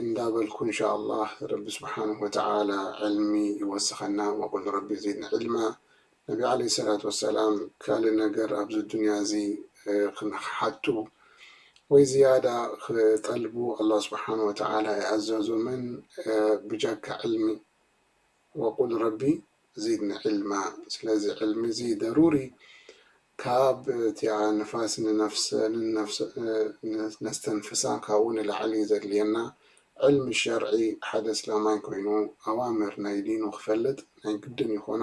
እንዳበልኩ እንሻላህ ረቢ ስብሓነሁ ወተዓላ ዕልሚ ይወስኸና ወቁል ረቢ ዚድኒ ዒልማ ነቢ ዓለይሂ ሰላት ወሰላም ካልእ ነገር ኣብዚ ዱንያ እዚ ኽሓቱ ወይ ዝያዳ ኽጠልቡ ኣላህ ስብሓነሁ ወተዓላ ኣይኣዘዞምን ብጃካ ዕልሚ ወቁል ረቢ ዚድኒ ዒልማ ስለዚ ዕልሚ እዚ ደሩሪ ካብ እቲኣ ንፋስ ንነፍሰ ነስተንፍሳ ካብኡ ንላዕሊ ዘድልየና ዕልሚ ሸርዒ ሓደ እስላማይ ኮይኑ ኣዋምር ናይ ዲኑ ክፈልጥ ናይ ግድን ይኾኖ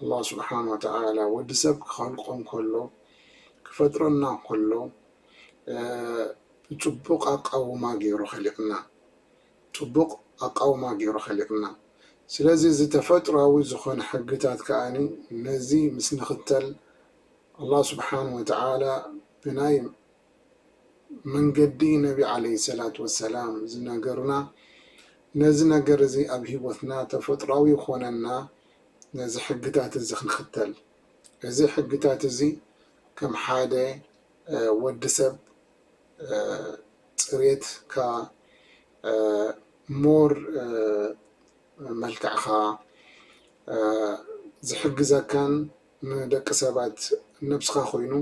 ኣላህ ሱብሓነሁ ወተዓላ ወዲ ሰብ ክኸልቆ እንከሎ ክፈጥረና እንከሎ ብጽቡቕ ኣቃውማ ጌሩ ኸሊቕና ጽቡቕ ኣቃውማ ጌሩ ኸሊቕና ስለዚ እዚ ተፈጥራዊ ዝኾነ ሕግታት ከኣ ነዚ ምስ ንኽተል ኣላህ ሱብሓነሁ ወተዓላ ብናይ መንገዲ ነቢ ዓለይሂ ሰላቱ ወሰላም ዝነገሩና ነዚ ነገር እዚ ኣብ ሂወትና ተፈጥሮኣዊ ይኾነና ነዚ ሕግታት እዚ ክንኽተል እዚ ሕግታት እዚ ከም ሓደ ወዲ ሰብ ፅሬትካ ሞር መልክዕኻ ዝሕግዘካን ንደቂ ሰባት ነብስኻ ኮይኑ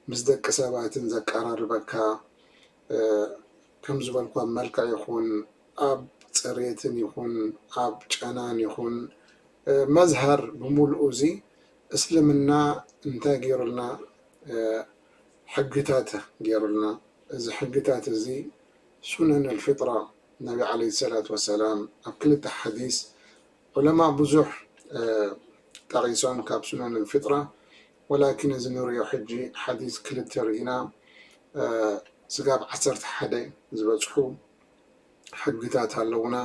ምስ ደቂ ሰባትን ዘቃራርበካ ከምዝበልኩ ኣብ መልክዕ ይኹን ኣብ ፅሬትን ይኹን ኣብ ጨናን ይኹን መዝሀር ብሙሉኡ እዚ እስልምና እንታይ ገይሩልና ሕግታት ገይሩልና እዚ ሕግታት እዚ ሱነን ኣልፍጥራ ነቢ ዓለይሂ ሰላቱ ወሰላም ኣብ ክልተ ሓዲስ ዑለማእ ብዙሕ ጠቂሶም ካብ ሱነን ልፍጥራ ወላኪን እዚ ንሪኦ ሕጂ ሓዲስ ክልተ ሪኢና ስጋብ ዓሰርተ ሓደ ዝበጽሑ ሕግታት ኣለዉና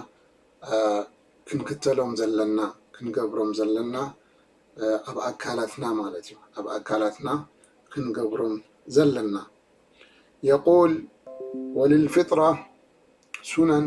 ክንክተሎም ዘለና ክንገብሮም ዘለና ኣብ ኣካላትና ማለት እዩ ኣብ ኣካላትና ክንገብሮም ዘለና የቁል ወልልፍጥራ ሱነን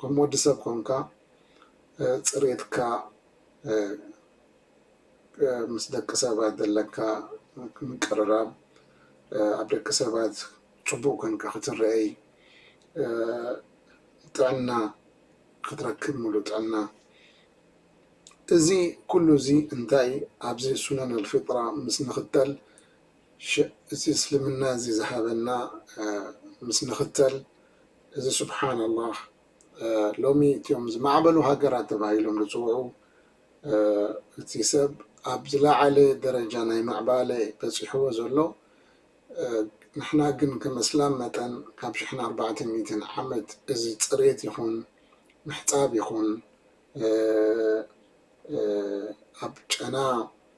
ከም ወዲ ሰብ ኮንካ ጽሬትካ ምስ ደቂ ሰባት ዘለካ ምቅርራብ ኣብ ደቂ ሰባት ጽቡቅ ኮንካ ክትረኤይ ጥዕና ክትረክብ ምሉእ ጥዕና እዚ ኩሉ እዚ እንታይ ኣብዚ ሱነን ኣልፊጥራ ምስ ንክተል ሽዕ እዚ እስልምና እዚ ዝሃበና ምስ ንኽተል እዚ ሱብሓን ኣላህ ሎሚ እትዮም ዝማዕበሉ ሃገራት ተባሂሎም ዝጽውዑ እቲ ሰብ ኣብ ዝላዓለ ደረጃ ናይ ምዕባለ በጺሕዎ ዘሎ ንሕና ግን ከም እስላም መጠን ካብ ሽሕን ኣርባዕተ ሚእትን ዓመት እዚ ጽሬት ይኹን ምሕጻብ ይኹን ኣብ ጨና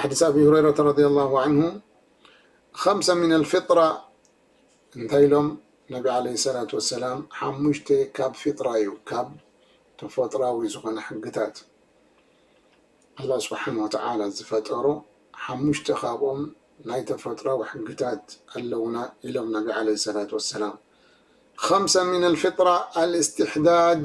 ሓዲስ ኣቢ ሁረይረተ ረድያ ላሁ ዓንሁ ኸምሰ ሚነል ፊጥራ እንታይ ኢሎም ነቢ ዓለይሂ ሰላቱ ወሰላም ሓሙሽተ ካብ ፊጥራ እዩ ካብ ተፈጥራዊ ዝኾነ ሕግታት ኣላህ ስብሓነ ወተዓላ ዝፈጠሮ ሓሙሽተ ካብኦም ናይ ተፈጥራዊ ሕግታት ኣለውና ኢሎም ነቢ ዓለይሂ ሰላቱ ወሰላም ኸምሰ ሚነል ፊጥራ ኣልእስትሕዳድ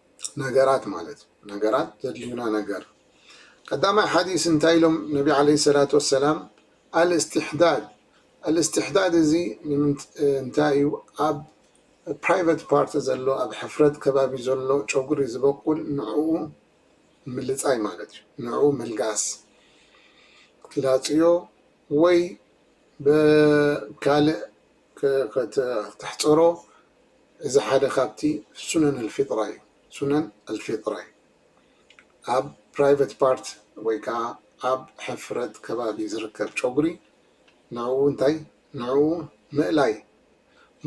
ነገራት ማለት እዩ ነገራት ዘድልዩና ነገር ቀዳማይ ሓዲስ እንታይ ኢሎም ነቢ ዓለ ሰላት ወሰላም ኣልእስትሕዳድ ኣልእስትሕዳድ እዚ እንታይ እዩ ኣብ ፕራይቨት ፓርቲ ዘሎ ኣብ ሕፍረት ከባቢ ዘሎ ጨጉሪ ዝበቁል ንዕኡ ምልፃይ ማለት እዩ ንዕኡ ምልጋስ ላፅዮ ወይ ብካልእ ከተሕጽሮ እዚ ሓደ ካብቲ ሱነን ኣልፊጥራ እዩ ሱነን ኣልፊጥራ እዩ ኣብ ፕራይቨት ፓርት ወይ ከኣ ኣብ ሕፍረት ከባቢ ዝርከብ ጨጉሪ ንዕኡ እንታይ ንዕኡ ምእላይ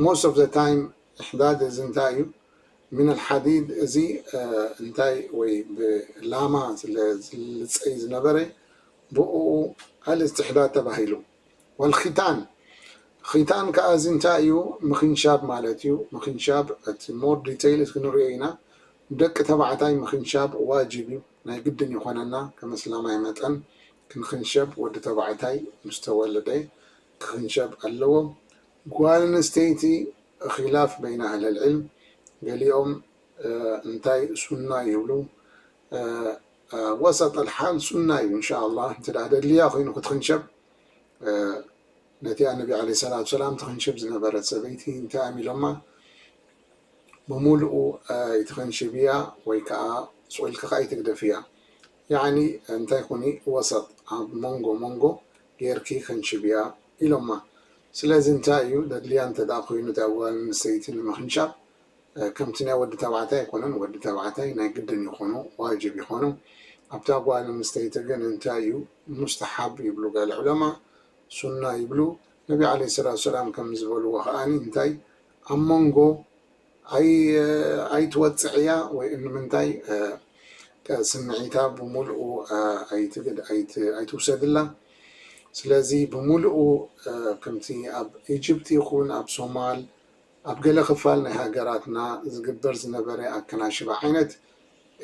ሞስት ኦፍ ዘ ታይም እሕዳድ እዚ እንታይ እዩ ምን ኣልሓዲድ እዚ እንታይ ወይ ብላማ ስለ ዝልጸይ ዝነበረ ብእኡ ኣልስትሕዳድ ተባሂሉ ወልኺታን ኺታን ከኣ እዚ እንታይ እዩ ምኽንሻብ ማለት እዩ ምኽንሻብ እቲ more detail እቲ ክንሪኦ ኢና ንደቂ ተባዕታይ ምኽንሻብ ዋጅብ እዩ ናይ ግድን ይኾነና ከም እስላማይ መጠን ክንኽንሸብ ወዲ ተባዕታይ ምስ ተወለደ ክኽንሸብ ኣለዎ ጓል ኣንስተይቲ ኺላፍ በይነ ኣህለል ዒልም ገሊኦም እንታይ ሱና ይብሉ ወሰጠ ልሓል ሱና እዩ እንሻ ኣላ እንተ ደልያ ኮይኑ ክትኽንሸብ ነቲኣ ነቢ ዓለይሂ ሰላቱ ወሰላም ትኽንሽብ ዝነበረት ሰበይቲ እንታይ እዮም ኢሎማ ብምሉኡ ኣይትኽንሽብያ ወይ ከዓ ስቁኢልኪ ከዓ ኣይትግደፍያ ያዕኒ እንታይ ኩኒ ወሰጥ ኣብ መንጎ መንጎ ጌርኪ ኽንሽብያ ኢሎማ ስለዚ እንታይ እዩ ደድልያ እንተ ኮይኑ እቲኣ ጓል ኣንስተይቲ ንምኽንሻብ ከምቲ ናይ ወዲ ተባዕታይ ኣይኮነን ወዲ ተባዕታይ ናይ ግድን ይኾኖ ዋጅብ ይኾኖ ኣብታ ጓል ኣንስተይቲ ግን እንታይ እዩ ሙስተሓብ ይብሉ ገለ ዑለማ ሱና ይብሉ ነቢ ዓለይሂ ሰላቱ ወሰላም ከም ዝበልዎ ከኣኒ እንታይ ኣብ መንጎ ኣይትወጽዕያ ወይ እንምንታይ ስምዒታ ብምልኡ ኣይትውሰድላ ስለዚ ብምልኡ ከምቲ ኣብ ኢጅፕት ይኹን ኣብ ሶማል ኣብ ገለ ክፋል ናይ ሃገራትና ዝግበር ዝነበረ ኣከናሽባ ዓይነት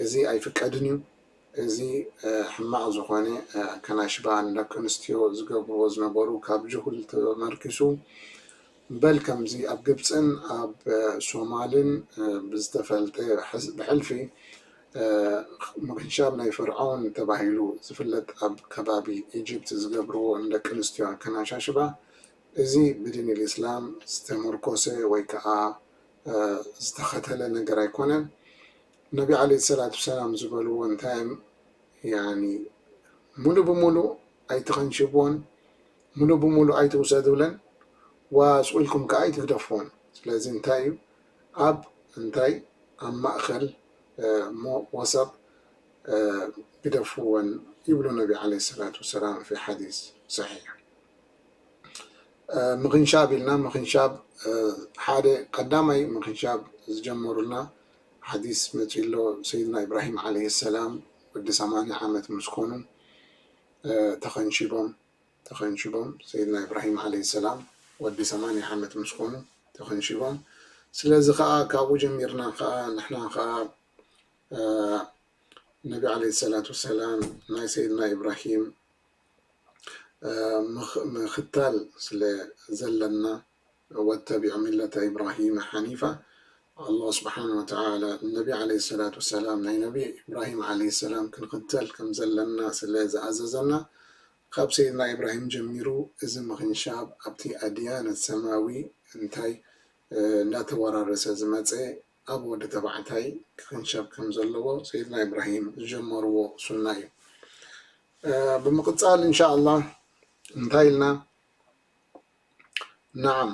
እዚ ኣይፍቀድን እዩ። እዚ ሕማቕ ዝኾነ ኣከናሽባ ንደቂ ኣንስትዮ ዝገብርዎ ዝነበሩ ካብ ጅሁል ተመርኪሱ በል ከምዚ ኣብ ግብጽን ኣብ ሶማልን ብዝተፈልጠ ብሕልፊ ምክንሻብ ናይ ፈርዖን ተባሂሉ ዝፍለጥ ኣብ ከባቢ ኢጅፕት ዝገብርዎ ንደቂ ኣንስትዮ ኣከናሻሽባ እዚ ብዲንል ኢስላም ዝተመርኮሰ ወይ ከኣ ዝተኸተለ ነገር ኣይኮነን ነቢ ዓለይሂ ሰላቱ ወሰላም ዝበልዎ እንታይ እም ያኒ ሙሉእ ብሙሉእ ኣይትኸንሽብዎን ሙሉእ ብሙሉእ ኣይትውሰዱለን ዋስቁ ኢልኩም ከኣ ኣይትግደፍዎን ስለዚ እንታይ እዩ ኣብ እንታይ ኣብ ማእኸል እሞ ወሰጥ ግደፍወን ይብሉ ነቢ ዓለይሂ ሰላቱ ወሰላም ፊ ሓዲስ ሰሒሕ። ምኽንሻብ ኢልና ምኽንሻብ ሓደ ቀዳማይ ምኽንሻብ ዝጀመሩልና ሓዲስ መፂኡ ኣሎ ሰይድና ኢብራሂም ዓለይሂ ሰላም ወዲ ሰማንያ ዓመት ምስ ኮኑ ተኸንሺቦም ተኸንሺቦም ሰይድና ኢብራሂም ዓለይሂ ሰላም ወዲ ሰማንያ ዓመት ምስ ኮኑ ተኸንሺቦም ስለዚ ከዓ ካብኡ ጀሚርና ከዓ ንሕና ከዓ ነቢ ዓለይሂ ሰላት ወሰላም ናይ ሰይድና ኢብራሂም ምኽታል ስለ ዘለና ወተቢዕ ሚለተ ኢብራሂመ ሓኒፋ ኣላህ ስብሓን ወተዓላ ንነቢ ዓለይሂ ሰላት ወሰላም ናይ ነቢ ኢብራሂም ዓለይሂ ሰላም ክንኽተል ከም ዘለና ስለ ዝኣዘዘና ካብ ሰይድና ኢብራሂም ጀሚሩ እዚ ምኽንሻብ ኣብቲ ኣድያነ ሰማዊ እንታይ እንዳተወራረሰ ዝመፀ ኣብ ወዲ ተባዕታይ ክኽንሸብ ከም ዘለዎ ሰይድና ኢብራሂም ዝጀመርዎ ሱና እዩ ብምቅጻል እንሻ ኣላህ እንታይ ኢልና ናዓም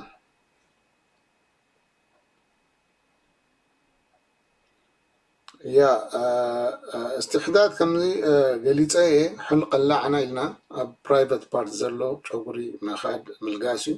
ያ እስትሕዳድ ከምዚ ገሊፀ እየ ሕልቅ ላዕና ኢልና ኣብ ፕራይቨት ፓርት ዘሎ ጨጉሪ ምኻድ ምልጋስ እዩ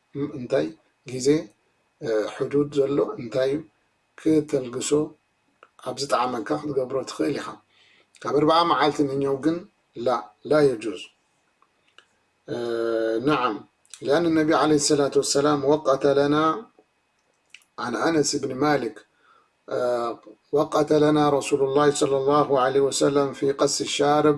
እም እንታይ ግዜ ሕዱድ ዘሎ እንታይ እዩ ክተልግሶ ኣብ ዝጠዓመካ ክትገብሮ ትክእል ኢካ ካብ እርባዓ መዓልቲ ንኘው ግን ላ ላ የጁዝ ነዓም ሊኣን ነቢ ዓለይሂ ሰላቱ ወሰላም ወቀተ ለና ዓን ኣነስ ብን ማሊክ ወቀተ ለና ረሱሉላሂ ሰለሏሁ ዓለይሂ ወሰለም ፊ ቀሲ ሻርብ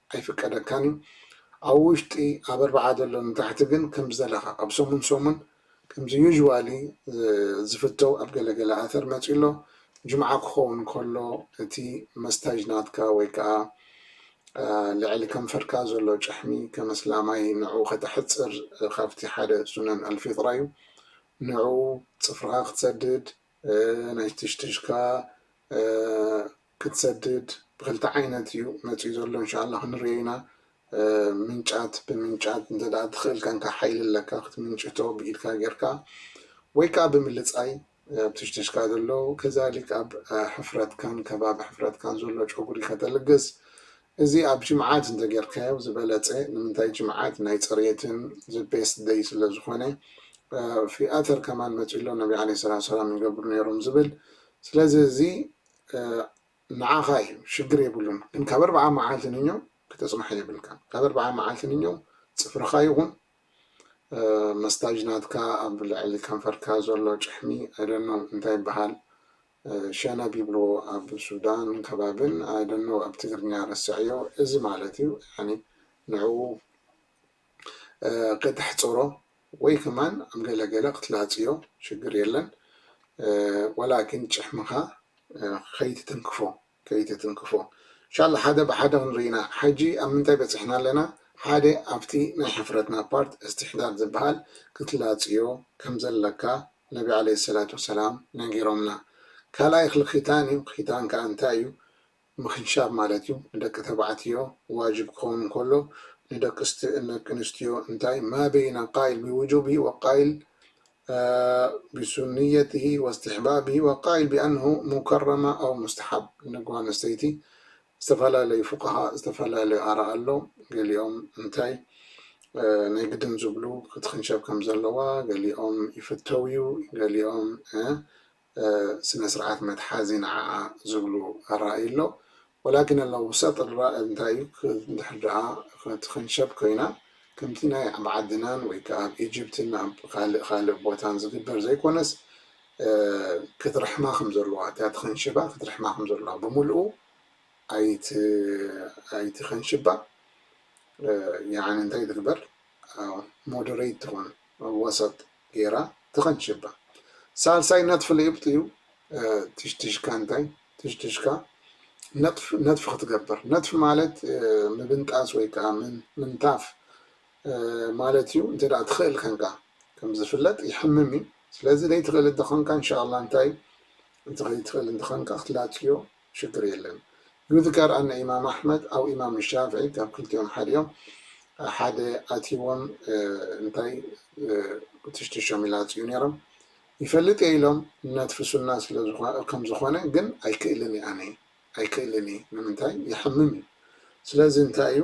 ኣይፍቀደካን እዩ ኣብ ውሽጢ ኣብ ኣርብዓ ዘሎ ንታሕቲ ግን ከም ዝደለካ ኣብ ሰሙን ሰሙን ከምዚ usually ዝፍተው ኣብ ገለ ገለ ኣተር መጺኡ ኣሎ ጅምዓ ክከውን ከሎ እቲ መስታጅ ናትካ ወይ ከኣ ልዕሊ ከንፈርካ ዘሎ ጭሕሚ ከም ኣስላማይ ንዕኡ ከተሕጽር ካብቲ ሓደ ሱነን ኣልፊጥራ እዩ ንዕኡ ጽፍርካ ክትሰድድ ናይ ትሽትሽካ ክትሰድድ ብክልተ ዓይነት እዩ መጺኡ ዘሎ እንሻላ ክንሪኦ ኢና ምንጫት ብምንጫት እንተ ትክእል ከንካ ሓይሊ ኣለካ ክትምንጭቶ ብኢድካ ጌርካ ወይ ከዓ ብምልጻይ ኣብ ትሽትሽካ ዘሎ ከዛሊክ ኣብ ሕፍረትካን ከባቢ ሕፍረትካን ዘሎ ጨጉሪ ከተልግስ እዚ ኣብ ጅምዓት እንተ ጌርካዮ ዝበለጸ ንምንታይ ጅምዓት ናይ ጽሬትን ዝበስት ደይ ስለ ዝኾነ ፊኣተር ከማን መጺሎ ነቢ ዓለ ስላ ሰላም ይገብሩ ነይሮም ዝብል ስለዚ እዚ ንዓኻ እዩ ሽግር የብሉን ግን ካብ ኣርብዓ መዓልቲ ንኞ ክተጽንሖ የብልካን ካብ ኣርብዓ መዓልቲ ንኞ ጽፍርኻ ይኹን መስታጅ ናትካ ኣብ ልዕሊ ከንፈርካ ዘሎ ጭሕሚ ኣይደኖ እንታይ ይበሃል ሸነብ ይብልዎ ኣብ ሱዳን ከባብን ኣይደኖ ኣብ ትግርኛ ረስዐዮ እዚ ማለት እዩ ንዕኡ ከተሕፅሮ ወይ ከማን ኣብ ገለ ገለ ክትላፅዮ ሽግር የለን ወላኪን ጭሕምኻ ከይትትንክፎ ከይትትንክፎ እንሻላ ሓደ ብሓደ ክንርኢ ኢና ሐጂ ኣብ ምንታይ በፂሕና ኣለና ሓደ ኣብቲ ናይ ሕፍረትና ፓርት እስትሕዳድ ዝባሃል ክትላፅዮ ከምዘለካ ነቢ ዓለይሂ ሰላቱ ወሰላም ነጊሮምና ካልኣይ ክሊ ኪታን እዩ ኪታን ካዓ እንታይ እዩ ምኽንሻብ ማለት እዩ። ንደቂ ተባዕትዮ ዋጅብ ክኸውን እንከሎ ንደቂ ኣንስትዮ እንታይ ማበይነ ቃይል ብውጁብሂ ወቃይል ብሱንየትሂ ወስትሕባብሂ ወቃይል ብኣንሁ ሙከረማ ኣው ሙስተሓብ ንጓል ኣንስተይቲ ዝተፈላለዩ ፉቃሃ ዝተፈላለዩ ኣራ ኣሎ ገሊኦም እንታይ ናይ ግድን ዝብሉ ክትኽንሸብ ከምዘለዋ ገሊኦም ይፍተው እዩ ገሊኦም ስነ ስርዓት መትሓዚ ንዓኣ ዝብሉ ኣራእዩ ኣሎ ወላኪን ኣላ ውሰጥ ልራእ እንታይ እዩ እንድሕር ደኣ ትኽንሸብ ኮይና ከምቲ ናይ ኣብ ዓድናን ወይ ከኣ ኣብ ኢጅፕትን ኣብ ካልእ ካልእ ቦታን ዝግበር ዘይኮነስ ክትርሕማ ከም ዘለዋ እታ ትኽንሽባ ክትርሕማ ከም ዘለዋ ብምልኡ ኣይትኽንሽባ ያዓኒ እንታይ ትግበር ሞደረይት ትኹን ወሰጥ ጌራ ትቐንሸባ። ሳልሳይ ነጥፊ ልኢብጥ እዩ፣ ትሽትሽካ እንታይ ትሽትሽካ ነጥፍ ነጥፊ ክትገብር ነጥፊ ማለት ምብንጣስ ወይ ከኣ ምንታፍ ማለት እዩ እንተ ትኽእል ከንካ ከም ዝፍለጥ ይሕምም እዩ ስለዚ ዘይትኽእል እንተኾንካ እንሻላ እንታይ እቲ ከይትኽእል እንተኾንካ ክትላፅዮ ሽግር የለን ዩዝጋር ኣነ ኢማም ኣሕመድ ኣው ኢማም ሻፍዒ ካብ ክልቲኦም ሓደ እዮም ሓደ ኣትይዎም እንታይ ትሽትሾም ይላፅዩ ነይሮም ይፈልጥ እየ ኢሎም ነትፊ ሱና ስለ ከም ዝኾነ ግን ኣይክእልን እየ ኣነ ኣይክእልን እየ ንምንታይ የሕምም እዩ ስለዚ እንታይ እዩ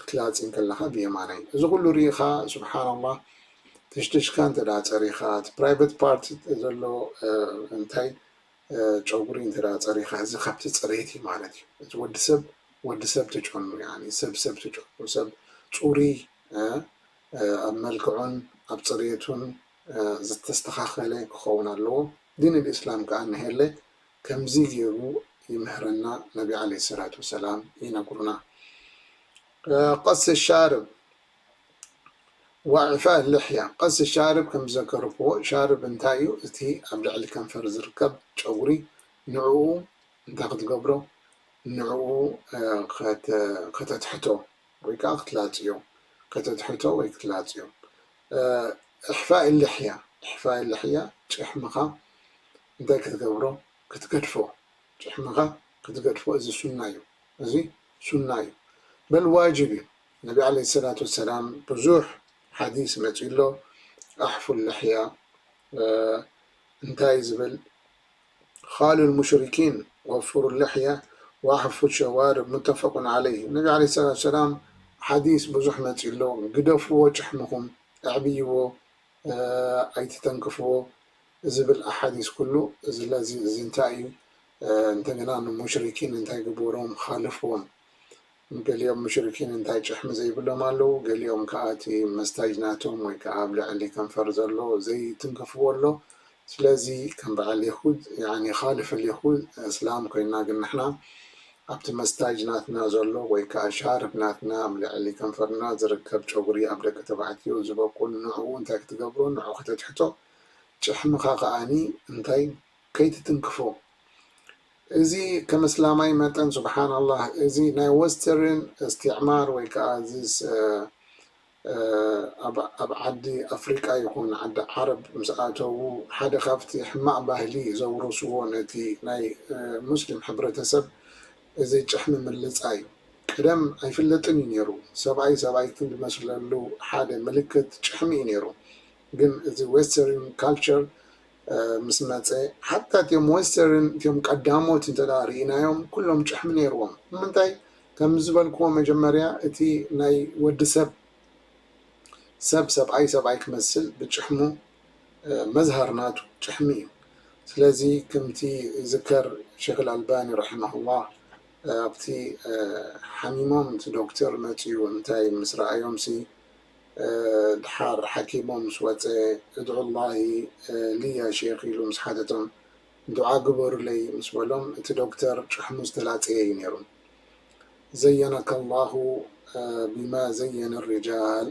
ክትላጺ እንከለኻ ብየማናይ እዚ ኩሉ ሪኢኻ ሱብሓነላህ ትሽትሽካ እንተ ጸሪኻ እቲ ፕራይቨት ፓርት ዘሎ እንታይ ጨጉሪ እንተ ጸሪኻ እዚ ካብቲ ጽሬት እዩ ማለት እዩ እቲ ወዲ ሰብ ወዲ ሰብ ትጨኑ ያኒ ሰብ ሰብ ትጨኑ ሰብ ጹሩይ ኣብ መልክዑን ኣብ ጽሬቱን ዝተስተኻኸለ ክኸውን ኣለዎ ዲን ልእስላም ከኣ ንሄለ ከምዚ ጌሩ ይምህረና ነቢ ዓለይሂ ሰላት ወሰላም ይነግሩና ቀስ ሻርብ ዋዕፋእ ልሕያ ቀስ ሻርብ ከም ዝዘከርክዎ ሻርብ እንታይ እዩ እቲ ኣብ ልዕሊ ከንፈር ዝርከብ ጨጉሪ ንዕኡ እንታይ ክትገብሮ ንዕኡ ከተትሕቶ ወይ ከዓ ክትላፅዮ ከተትሕቶ ወይ ክትላፅዮ እሕፋእ ልሕያ እሕፋእ ልሕያ ጭሕምኻ እንታይ ክትገብሮ ክትገድፎ ጭሕምኻ ክትገድፎ እዚ ሱና እዩ እዚ ሱና እዩ በል ዋጅብ እዩ ነቢ ዓለይሂ ሰላቱ ወሰላም ብዙሕ ሓዲስ መፂኡ ኣሎ ኣሕፉ ልሕያ እንታይ ዝብል ኻሉ ልሙሽሪኪን ወፍሩ ልሕያ ወኣሕፉ ሸዋርብ ሙተፈቁን ዓለይህ ነቢ ዓለይሂ ሰላቱ ወሰላም ሓዲስ ብዙሕ መፂኡ ኣሎ ግደፍዎ ጭሕምኹም ኣዕብይዎ ኣይትተንክፍዎ ዝብል ኣሓዲስ ኩሉ ዝለ እዚ እዚ እንታይ እዩ እንተገና ንሙሽሪኪን እንታይ ግቡሮም ኻልፍዎም ገሊኦም ሙሽሪኪን እንታይ ጭሕሚ ዘይብሎም ኣለው ገሊኦም ከኣ እቲ መስታጅ ናቶም ወይ ከኣ ኣብ ልዕሊ ከንፈር ዘሎ ዘይትንክፍዎ ኣሎ ስለዚ ከም በዓል የሁድ ያዕኒ ኻልፍ ልየሁድ እስላም ኮይንና ግን ንሕና ኣብቲ መስታጅ ናትና ዘሎ ወይ ከኣ ሻርፕ ናትና ኣብ ልዕሊ ከንፈርና ዝርከብ ጨጉሪ ኣብ ደቂ ተባዕትዮ ዝበቁል ንዕኡ እንታይ ክትገብሮ ንዕኡ ከተትሕቶ ጭሕምኻ ከኣኒ እንታይ ከይትትንክፎ እዚ ከም እስላማይ መጠን ሱብሓናላህ እዚ ናይ ወስተርን እስትዕማር ወይ ከኣ እዚ ኣብ ዓዲ ኣፍሪቃ ይኹን ዓዲ ዓረብ ምስ ኣተዉ ሓደ ካብቲ ሕማቕ ባህሊ ዘውረስዎ ነቲ ናይ ሙስሊም ሕብረተሰብ እዚ ጭሕሚ ምልጻይ እዩ። ቀደም ኣይፍለጥን እዩ ነይሩ። ሰብኣይ ሰብኣይ ዝመስለሉ ሓደ ምልክት ጭሕሚ እዩ ነይሩ። ግን እዚ ዌስተርን ካልቸር ምስ መጸ ሓታ እቲም ዌስተርን እቲም ቀዳሞት እንተ ርኢናዮም ኩሎም ጭሕሚ ነይርዎም። ንምንታይ ከም ዝበልክዎ መጀመርያ እቲ ናይ ወዲ ሰብ ሰብ ሰብኣይ ሰብኣይ ክመስል ብጭሕሙ መዝሃር ናቱ ጭሕሚ እዩ ስለዚ ከምቲ ዝከር ሸክ ኣልባኒ ረሒመሁላህ ኣብቲ ሓሚሞም እቲ ዶክተር መጽዩ እንታይ ምስ ረኣዮምሲ ድሓር ሓኪሙ ምስ ወጸ እድዑላሂ ሊያ ሸክ ኢሉ ምስ ሓተቶም ዱዓ ግበሩለይ ምስ በሎም እቲ ዶክተር ጭሕሙ ዝተላጸየ እዩ ነይሩ። ዘየነከ ኣላሁ ቢማ ዘየነ ሪጃል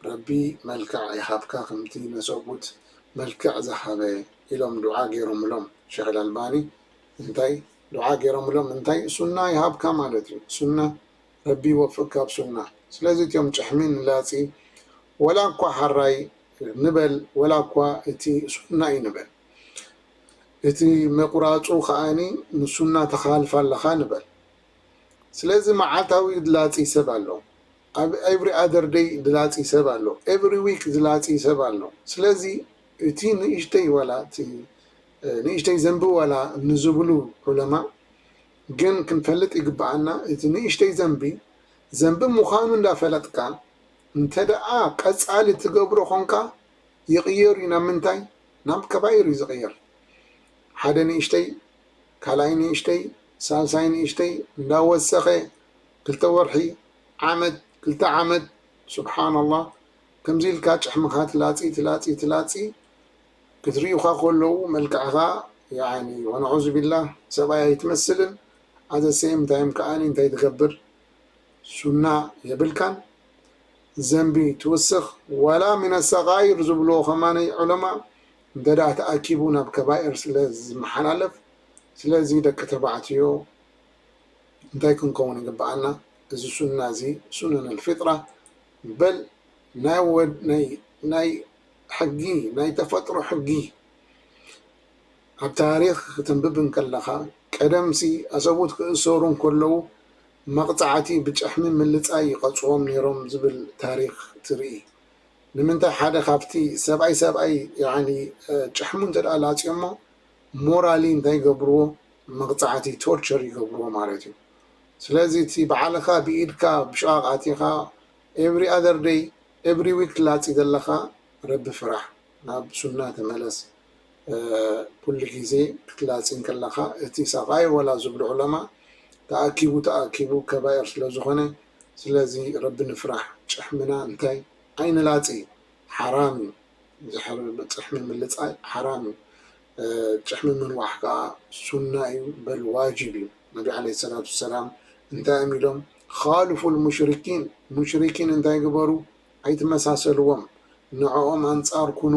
ረቢ መልክዕ ይሃብካ ከምቲ ንሰብኡት መልክዕ ዝሃበ ኢሎም ዱዓ ገይሮምሎም ሸኽ ኣልኣልባኒ እንታይ ዱዓ ገይሮምሎም እንታይ ሱና ይሃብካ ማለት እዩ ሱና ረቢ ይወፍቅካ ኣብ ሱና ስለዚ እትም ጭሕሚ ንላጺ ወላ እኳ ሓራይ ንበል ወላ እኳ እቲ ሱና እዩ ንበል እቲ ምቁራጹ ከኣ ንሱና ተኻልፋ ኣለኻ ንበል ስለዚ መዓልታዊ ድላጺ ሰብ ኣሎ ኣብ ኤቭሪ ኣደር ደይ ድላጺ ሰብ ኣሎ ኤቭሪ ዊክ ዝላጺ ሰብ ኣሎ ስለዚ እቲ ንእሽተይ ዋላ እቲ ንእሽተይ ዘንቢ ዋላ ንዝብሉ ዑለማእ ግን ክንፈልጥ ይግበኣና እቲ ንእሽተይ ዘንቢ ዘንቢ ምዃኑ እንዳፈለጥካ እንተደኣ ቀጻሊ ትገብሮ ኾንካ ይቕየር እዩ ናብ ምንታይ ናብ ከባይር እዩ ዝቕየር ሓደ ንእሽተይ ካልኣይ ንእሽተይ ሳልሳይ ንእሽተይ እንዳወሰኸ ክልተ ወርሒ ዓመት ክልተ ዓመት ሱብሓነላህ ከምዚ ኢልካ ጭሕምኻ ትላጺ ትላጺ ትላጺ ክትሪኡኻ ከለዉ መልክዕኻ ያኒ ወነዑዙቢላህ ሰብኣይ ኣይትመስልን ኣዘ ሰይም ታይም ከኣ እንታይ ትገብር ሱና የብልካን ዘንቢ ትውስኽ ዋላ ሚነ ሰጋይር ዝብልዎ ከማነይ ዑለማ እንተ ተኣኪቡ ናብ ከባኤር ስለ ዝመሓላለፍ ስለዚ ደቂ ተባዕትዮ እንታይ ክንከውን ይግበኣና እዚ ሱና እዚ ሱነነል ፊጥራ በል ናይ ወድ ናይ ናይ ሕጊ ናይ ተፈጥሮ ሕጊ ኣብ ታሪኽ ክትንብብ እንከለኻ፣ ቀደምሲ ኣሰቡት ክእሰሩ እንከለዉ መቕጻዕቲ ብጭሕሚ ምልጻይ ይቐጽዎም ነይሮም ዝብል ታሪኽ ትርኢ። ንምንታይ ሓደ ካብቲ ሰብኣይ ሰብኣይ ያዕኒ ጭሕሙ እንተድኣ ላጽዮሞ ሞራሊ እንታይ ይገብርዎ መቕጻዕቲ ቶርቸር ይገብርዎ ማለት እዩ። ስለዚ እቲ ባዕልኻ ብኢድካ ብሽቓቕ ኣቲኻ ኤቭሪ ኣዘር ደይ ኤቭሪ ዊክ ትላጺ ዘለኻ ረቢ ፍራሕ ናብ ሱና ተመለስ። ኩሉ ግዜ ክትላጺ እንከለኻ እቲ ሳቓይ ወላ ዝብሉ ዕለማ ተኣኪቡ ተኣኪቡ ከባኢር ስለ ዝኾነ ስለዚ ረቢ ንፍራሕ ጭሕምና እንታይ ኣይንላጺ ሓራም እዩ ዝሕር ጽሕሚ ምልጻይ ሓራም እዩ ጭሕሚ ምንዋሕ ከኣ ሱና እዩ በል ዋጅብ እዩ ነቢ ዓለይሂ ሰላቱ ወሰላም እንታይ እዮም ኢሎም ኻሉፉል ሙሽሪኪን ሙሽሪኪን እንታይ ግበሩ ኣይትመሳሰልዎም ንዕኦም ኣንጻር ኩኑ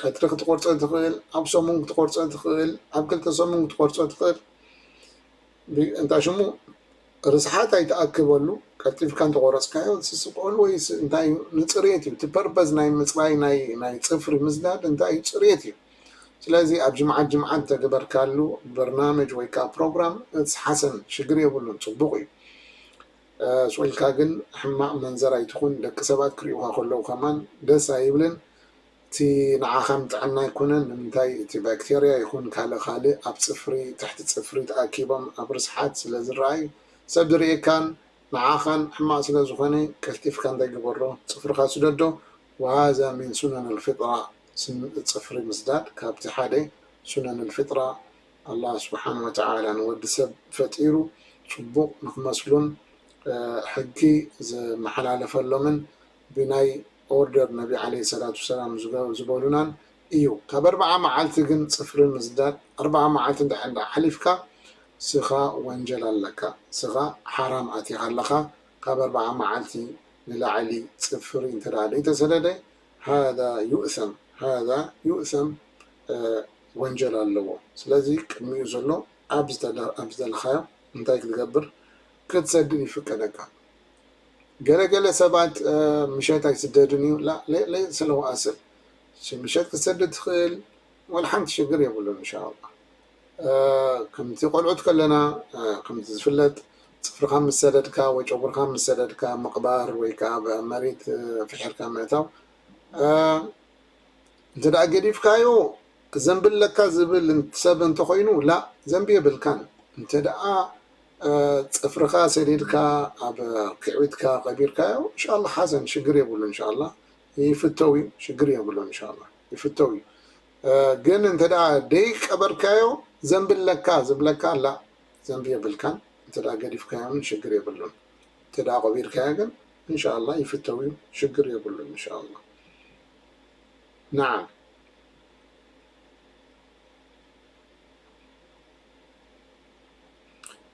ቀትሪ ክትቆርጾ ትኽእል ኣብ ሰሙን ክትቆርጾ ትኽእል ኣብ ክልተ ሰሙን ክትቆርጾ ትኽእል እንታይ ሽሙ ርስሓት ኣይትኣክበሉ ቀልጢፍካ እንተቆረፅካዮ ስስቆሉ ወይ እንታይ እዩ ንፅሬት እዩ እቲ ፐርፐዝ ናይ ምፅራይ ናይ ፅፍሪ ምዝዳድ እንታይ እዩ ፅሬት እዩ ስለዚ ኣብ ጅምዓት ጅምዓት ተገበርካሉ በርናመጅ ወይ ከዓ ፕሮግራም ሓሰን ሽግር የብሉን ፅቡቅ እዩ ቐስ ኢልካ ግን ሕማቅ መንዘር ኣይትኩን ደቂ ሰባት ክሪኡካ ከለው ከማን ደስ ኣይብልን እቲ ንዓካም ጥዕና ኣይኮነን ንምንታይ እቲ ባክተርያ ይኩን ካልእ ካልእ ኣብ ፅፍሪ ትሕቲ ፅፍሪ ተኣኪቦም ኣብ ርስሓት ስለ ዝረኣይ ሰብ ዝሪኤካን ንዓካን ሕማቅ ስለ ዝኮነ ቀልጢፍካ እንታይ ግበሮ ፅፍርካ ስደዶ ወሃዛ ሚን ሱነን ኣልፍጥራ ፅፍሪ ምስዳድ ካብቲ ሓደ ሱነን ኣልፍጥራ ኣላህ ስብሓን ወተዓላ ንወዲ ሰብ ፈጢሩ ፅቡቕ ንክመስሉን ሕጊ ዝመሓላለፈሎምን ብናይ ኦርደር ነቢ ዓለይሂ ሰላቱ ወሰላም ዝበሉናን እዩ። ካብ ኣርብዓ መዓልቲ ግን ፅፍሪ ምስዳድ ኣርብዓ መዓልቲ እንድሕር እንዳ ሓሊፍካ ስኻ ወንጀል ኣለካ ስኻ ሓራም ኣቲኻ ኣለኻ ካብ ኣርብዓ መዓልቲ ንላዕሊ ፅፍሪ እንተደኣ ደይተሰደደ ሃዛ ዩእሰም ሃዛ ዩእሰም ወንጀል ኣለዎ ስለዚ ቅድሚኡ ዘሎ ኣብ ዝደለኻዮ እንታይ ክትገብር ክትሰድን ይፍቀደካ ገለ ገለ ሰባት ምሸት ኣይስደድን እዩ ለይት ሰለዋኣስል ምሸት ክትሰድድ ትኽእል ወላ ሓንቲ ሽግር የብሉን እንሻ ኣላ። ከምቲ ቆልዑት ከለና ከምቲ ዝፍለጥ ጽፍርካ ምስ ሰደድካ ወይ ጨጉርካ ምስ ሰደድካ ምቕባር ወይ ከኣ ኣብ መሬት ፍሒርካ ምእታው እንተ ገዲፍካዮ ዘንቢ ኣለካ ዝብል ሰብ እንተኾይኑ ላ ዘንቢ የብልካን እንተ ጽፍርካ ሰዲድካ ኣብ ክዕቢትካ ቀቢርካዮ እንሻላ ሓሰን ሽግር የብሉን እንሻላ ይፍተው እዩ ሽግር የብሉን እንሻላ ይፍተው እዩ ግን እንተ ደይ ቀበርካዮ ዘንቢ ኣለካ ዝብለካ ላእ ዘንቢ የብልካን እንተ ገዲፍካዮ ውን ሽግር የብሉን እንተ ቀቢርካዮ ግን እንሻላህ ይፍተው ዩ ሽግር የብሉን እንሻላህ ናዓም።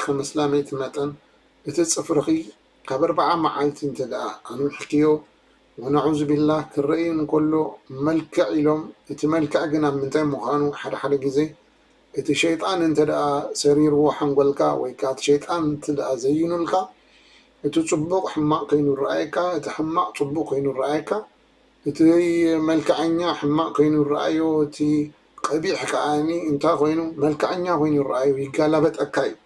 ከም ኣስላመይቲ መጠን እቲ ጽፍርኺ ካብ ኣርብዓ መዓልቲ እንተድኣ ኣንዊሕክዮ ወነዑዙቢላህ ክረኢ እንከሎ መልክዕ ኢሎም እቲ መልክዕ ግን ኣብ ምንታይ ምዃኑ ሓደ ሓደ ግዜ እቲ ሸይጣን እንተድኣ ሰሪርዎ ሓንጎልካ ወይ ከኣ እቲ ሸይጣን እንተድኣ ዘይኑልካ እቲ ጽቡቕ ሕማቕ ከይኑ ይረኣየካ እቲ ሕማቕ ጽቡቕ ከይኑ ይረኣየካ እቲ መልከዐኛ ሕማቅ ኮይኑ ይረኣዮ እቲ ቀቢሕ ከኣ እንታይ ኮይኑ መልከዐኛ ኮይኑ ይረኣዮ ይጋላበጠካ እዩ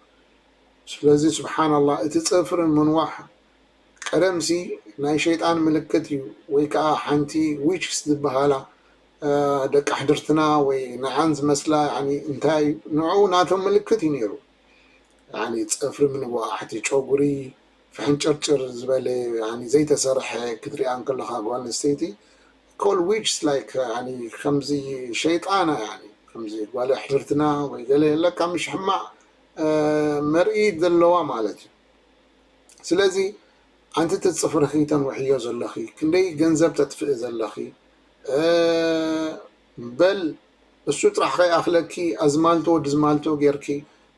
ስለዚ ስብሓናላ እቲ ጽፍሪ ምንዋሕ ቀደምሲ ናይ ሸይጣን ምልክት እዩ ወይ ከኣ ሓንቲ ዊችስ ዝብሃላ ደቂ ኣሕድርትና ወይ ንዓን ዝመስላ ያኒ እንታይ ንዑኡ ናቶም ምልክት እዩ ኔሩ ያኒ ጽፍሪ ምንዋሕ እቲ ጨጉሪ ፍሕንጭርጭር ዝበለ ያኒ ዘይተሰርሐ ክትሪኣ እንከለኻ ጓል ኣንስተይቲ ኮል ዊችስ ላይክ ያኒ ከምዚ ሸይጣን እያ ያኒ ከምዚ ጓል ኣሕድርትና ወይ ገለ ለካ ምሽ ሕማቕ መርኢት ዘለዋ ማለት እዩ ስለዚ ኣንቲ እቲ ፅፍርኺ ተንውሕዮ ዘለኺ ክንደይ ገንዘብ ተጥፍኢ ዘለኺ በል እሱ ጥራሕ ከይኣክለኪ ኣዝማልቶ ወዲ ዝማልቶ ጌርኪ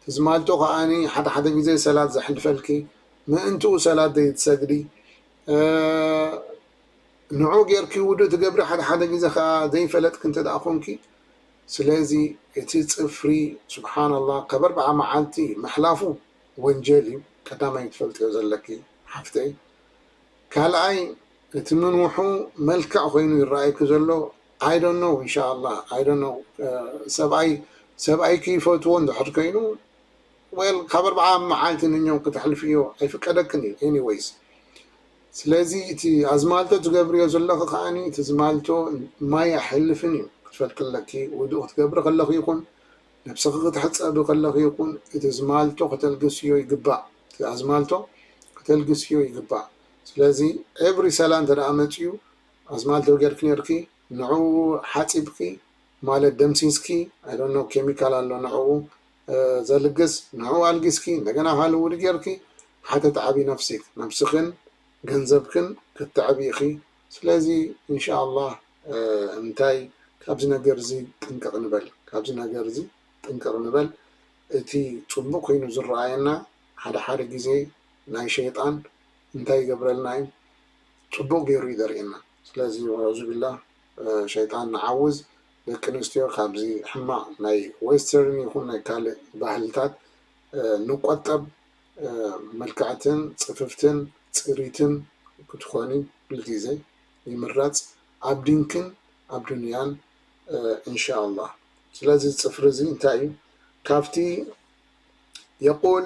ትዝማልቶ ከኣ ሓደ ሓደ ግዜ ሰላት ዘሕልፈልኪ ምእንትኡ ሰላት ዘይትሰግዲ ንዑ ጌርኪ ውዱእ ትገብሪ ሓደ ሓደ ግዜ ከኣ ዘይፈለጥኪ እንተ ኮንኪ ስለዚ እቲ ጽፍሪ ስብሓንላህ ካብ ኣርብዓ መዓልቲ ምሕላፉ ወንጀል እዩ ቀዳማይ ክትፈልጥዮ ዘለኪ ሓፍተይ ካልኣይ እቲ ምንውሑ መልክዕ ኮይኑ ይረኣየኪ ዘሎ I don't know እንሻኣላህ I don't know ሰብኣይ ሰብኣይኪ ይፈትዎ እንድሕር ኮይኑ well ካብ ኣርብዓ መዓልቲ ንኘው ክተሕልፍዮ ኣይፍቀደክን እዩ anyways ስለዚ እቲ ኣዝማልቶ ትገብርዮ ዘለኺ ከኣ እቲ ዝማልቶ ማይ ኣይሕልፍን እዩ ክትፈልጢ ኣለኪ ውዱእ ክትገብሪ ከለኺ ይኹን ነብስኺ ክትሕፀቢ ከለኺ ይኹን እቲ ዝማልቶ ከተልግስዮ ይግባእ እቲ ኣዝማልቶ ከተልግስዮ ይግባእ ስለዚ every ሰላ እንተደኣ መፅዩ ኣዝማልቶ ጌርኪ ኔርኪ ንዕኡ ሓጺብኪ ማለት ደምሲስኪ ኣይ ዶንት ኖው ኬሚካል ኣሎ ንዕኡ ዘልግስ ንዕኡ ኣልጊስኪ እንደገና ካልእ ውዲ ጌርኪ ሓተትዓቢ ነፍሲክ ነብስክን ገንዘብክን ከተዕቢ ኢኪ ስለዚ እንሻኣላህ እንታይ ካብዚ ነገር እዚ ጥንቅቅ ንበል ካብዚ ነገር እዚ ጥንቅቅ ንበል እቲ ጽቡቅ ኮይኑ ዝረኣየና ሓደ ሓደ ግዜ ናይ ሸይጣን እንታይ ይገብረልና እዩ ጽቡቅ ጌሩ እዩ ዘርእየና ስለዚ ወዑዙቢላህ ሸይጣን ንዓውዝ ደቂ ኣንስትዮ ካብዚ ሕማቅ ናይ ዌስተርን ይኩን ናይ ካልእ ባህልታት ንቆጠብ ምልክዕትን ጽፍፍትን ጽሪትን ክትኮኒ ኩልግዜ ይምረጽ ኣብ ዲንክን ኣብ ዱንያን እንሻኣላህ ስለዚ ጽፍሪ እዚ እንታይ እዩ ካብቲ የቁል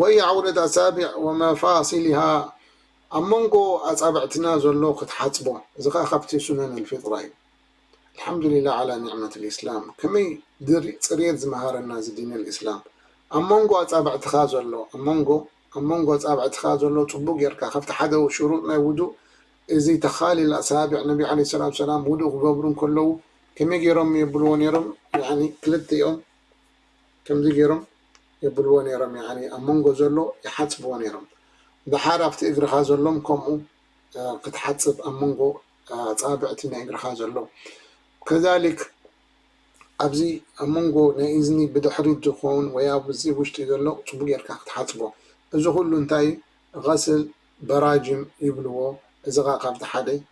ወይ ዓውደት ኣጻብዕ ወመፋሲሊሃ ኣብ መንጎ ኣጻብዕትና ዘሎ ክትሓጽቦ እዚ ከኣ ካብቲ ሱነን ኣልፊጥራ እዩ ኣልሓምዱሊላህ ዓላ ኒዕመት ኣልኢስላም ከመይ ጽርየት ዝመሃረና እዚ ዲን ኣልኢስላም ኣብ መንጎ ኣጻብዕትኻ ዘሎ ኣብ መንጎ ኣብ መንጎ ኣጻብዕትኻ ዘሎ ጽቡቅ ጌርካ ካብቲ ሓደ ሽሩጥ ናይ ውዱእ እዚ ተኻሊል ኣሳብዕ ነቢ ዓለይሂ ሰላቱ ወሰላም ውዱእ ክገብሩ እንከለዉ ከመይ ጌሮም የብልዎ ኔሮም ያኒ ክልቲኦም ከምዚ ጌሮም የብልዎ ኔሮም ያዓኒ ኣብ መንጎ ዘሎ ይሓጽብዎ ኔሮም ደሓር ኣብቲ እግርኻ ዘሎን ከምኡ ክትሓጽብ ኣብ መንጎ ኣጻብዕቲ ናይ እግርኻ ዘሎ ከዛሊክ ኣብዚ ኣብ መንጎ ናይ እዝኒ ብድሕሪት ዝኮውን ወይ ኣብዚ ውሽጢ ዘሎ ጽቡቅ ጌርካ ክትሓጽቦ እዚ ኩሉ እንታይ እዩ? ገስል በራጅም ይብልዎ እዚ ከኣ ካብቲ ሓደ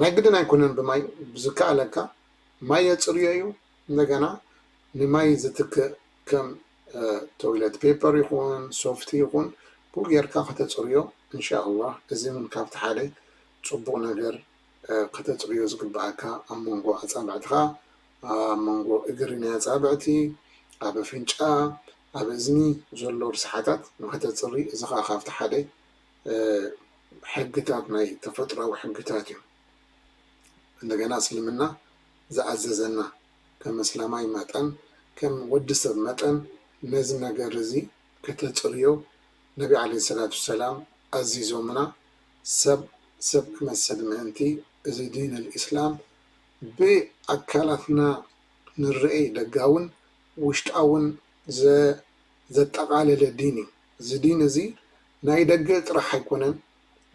ናይ ግድን ኣይኮነን ብማይ ብዝከኣለካ ማይ የፅርዮ እዩ እንደገና ንማይ ዝትክእ ከም ቶይለት ፔፐር ይኹን ሶፍቲ ይኹን ብኡ ጌርካ ከተፅርዮ እንሻኣላ እዚ እውን ካብቲ ሓደ ፅቡቕ ነገር ከተፅርዮ ዝግበኣካ ኣብ መንጎ ኣፃብዕትኻ ኣብ መንጎ እግሪ ናይ ኣፃብዕቲ ኣብ ኣፍንጫ ኣብ እዝኒ ዘሎ ርስሓታት ንኸተፅሪ እዚ ከዓ ካብቲ ሓደ ሕግታት ናይ ተፈጥራዊ ሕግታት እዮም እንደገና እስልምና ዝኣዘዘና ከም ኣስላማይ መጠን ከም ወዲ ሰብ መጠን ነዚ ነገር እዚ ከተጽርዮ ነቢ ዓለይሂ ሰላቱ ወሰላም ኣዚዞምና ሰብ ሰብ ክመስል ምእንቲ እዚ ዲነል ኢስላም ብኣካላትና ንርኤይ ደጋውን ውሽጣውን ዘጠቓለለ ዲን እዩ። እዚ ዲን እዚ ናይ ደገ ጥራሕ ኣይኮነን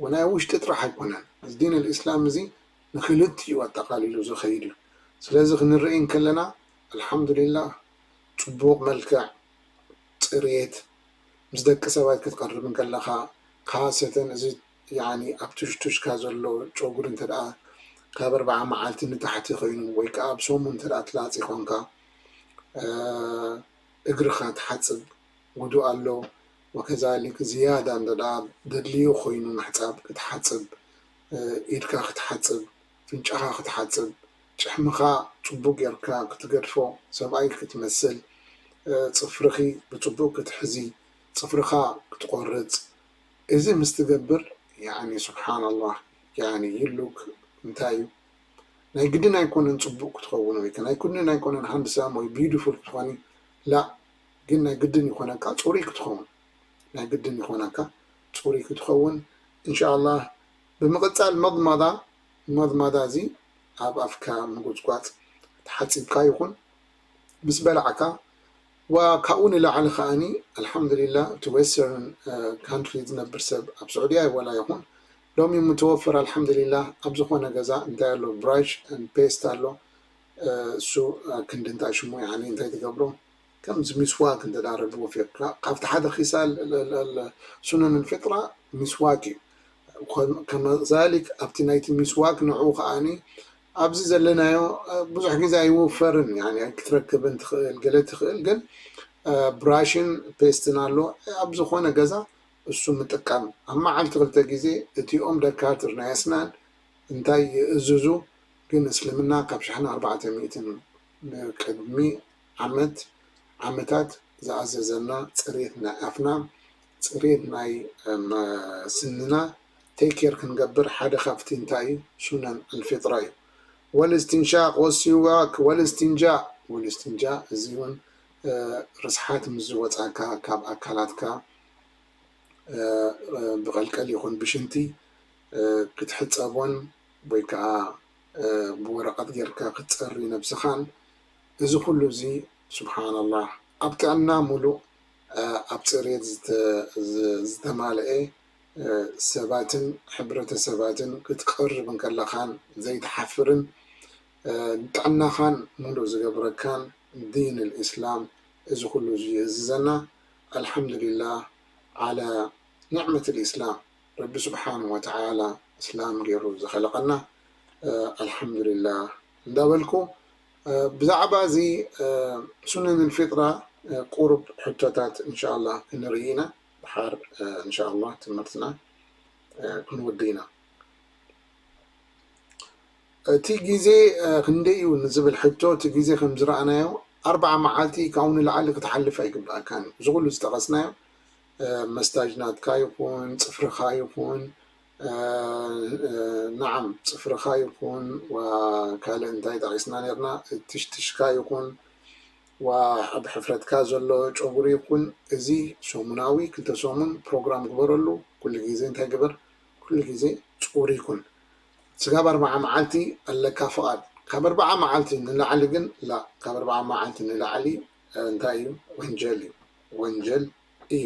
ወናይ ውሽጢ ጥራሕ ኣይኮነን እዚ ዲን ኣልእስላም እዚ ንክልቲኡ ኣጠቃሊሉ ዝከይድ እዩ ስለዚ ክንርኢ እንከለና ኣልሓምዱሊላህ ፅቡቅ መልክዕ ፅርየት ምስ ደቂ ሰባት ክትቀርብ እንከለካ ካሰተን እዚ ያኒ ኣብ ትሽቱሽካ ዘሎ ጨጉሪ እንተድኣ ካብ ኣርብዓ መዓልቲ ንታሕቲ ኮይኑ ወይ ከዓ ኣብ ሰሙን እንተድኣ ትላፂ ኮንካ እግርካ ትሓፅብ ውዱእ ኣሎ ወከዛሊክ ዝያዳ እንተድኣ ዘድልዩ ኮይኑ ምሕጻብ ክትሓጽብ ኢድካ ክትሓጽብ ፍንጫኻ ክትሓጽብ ጭሕምኻ ጽቡቅ ጌርካ ክትገድፎ ሰብኣይ ክትመስል ጽፍርኺ ብጽቡቅ ክትሕዚ ጽፍርኻ ክትቆርጽ እዚ ምስ ትገብር ያኒ ሱብሓነላህ ያኒ you look እንታይ እዩ ናይ ግድን ኣይኮነን ጽቡቅ ክትኾውን ወይ ከኣ ናይ ግድን ኣይኮነን ሃንድሳም ወይ ቢዩትፉል ክትኾኒ ላእ ግን ናይ ግድን ይኮነካ ጹሩይ ክትከውን ናይ ግድን ይኮናካ ጹሩይ ክትከውን እንሻኣላህ ብምቅጻል መድማዳ መድማዳ እዚ ኣብ ኣፍካ ምጉጽጓጽ ተሓጺብካ ይኩን ምስ በላዕካ ዋ ካብኡ ንላዕሊ ከኣኒ ኣልሓምድሊላ እቲ ወስተርን ካንትሪ ዝነብር ሰብ ኣብ ሱዑድያ ወላ ይኩን ሎሚ ምተወፈረ ኣልሓምድሊላ ኣብ ዝኮነ ገዛ እንታይ ኣሎ ብራሽ ን ፔስት ኣሎ እሱ ክንዲ እንታይ ሽሙ ያኒ እንታይ ትገብሮ ከምዚ ሚስዋክ እንተ ረቢ ወፊቅካ ካብቲ ሓደ ኺሳል ሱነን ኣልፊጥራ ሚስዋክ እዩ ከመዛሊክ ኣብቲ ናይቲ ሚስዋክ ንዑኡ ከኣ ኣብዚ ዘለናዮ ብዙሕ ግዜ ኣይውፈርን ኣይክትረክብን ትክእል ገለ ትክእል ግን ብራሽን ፔስትን ኣሎ ኣብ ዝኮነ ገዛ እሱ ምጥቃም ኣብ መዓልቲ ክልተ ግዜ እቲኦም ደካትር ናይ ኣስናን እንታይ ይእዝዙ ግን እስልምና ካብ ሽሕን ኣርባዕተ ሚእትን ንቅድሚ ዓመት ዓመታት ዝኣዘዘና ፅሬት ናይ ኣፍና ፅሬት ናይ ስንና take care ክንገብር ሓደ ካብቲ እንታይ እዩ ሱነን ኣልፊጥራ እዩ ወልእስቲንሻቅ ወሲዋክ ወልእስቲንጃእ ወልእስቲንጃእ እዚ እውን ርስሓት ምስ ዝወፃካ ካብ ኣካላትካ ብቀልቀል ይኹን ብሽንቲ ክትሕፀቦን ወይ ከዓ ብወረቀት ጌርካ ክትፀሪ ነብስኻን እዚ ኩሉ እዚ ሱብሓነላህ ኣብ ጥዕና ሙሉእ ኣብ ፅርየት ዝተማለኤ ሰባትን ሕብረተሰባትን ክትቀርብ እንከለኻን ዘይትሓፍርን ንጥዕናኻን ሙሉእ ዝገብረካን ዲን ልእስላም እዚ ኩሉ እዚ ይእዝዘና ኣልሓምዱሊላህ ዓላ ኒዕመት ልእስላም ረቢ ሱብሓነሁ ወተዓላ እስላም ገይሩ ዝኸለቐና ኣልሓምዱሊላህ እንዳበልኩ ብዛዕባ እዚ ሱነን ፊጥራ ቁሩብ ሕቶታት እንሻላህ ክንርኢ ኢና ድሓር እንሻላህ ትምህርትና ክንውድእ ኢና። እቲ ግዜ ክንደይ እዩ ንዝብል ሕቶ እቲ ግዜ ከም ዝረኣናዮ ኣርብዓ መዓልቲ ካብኡ ንላዕሊ ክትሓልፍ ኣይግበኣካን እዩ። እዚ ኩሉ ዝጠቐስናዮ መስታጅናትካ ይኹን ፅፍርኻ ይኹን ናዓም ፅፍርካ ይኩን ዋእ ካልእ እንታይ ጠቂስና ነይርና ትሽትሽካ ይኩን ዋእ ኣብ ሕፍረትካ ዘሎ ጨጉሪ ይኩን እዚ ሰሙናዊ ክልተ ሰሙን ፕሮግራም ግበረሉ ኩሉ ግዜ እንታይ ግበር ኩሉ ግዜ ፅሩይ ኩን ስጋብ ኣርባዓ ማዓልቲ ኣለካ ፍቃድ ካብ ኣርባዓ ማዓልቲ ንላዕሊ ግን ላእ ካብ ኣርባዓ ማዓልቲ ንላዕሊ እንታይ እዩ ወንጀል እዩ ወንጀል እዩ።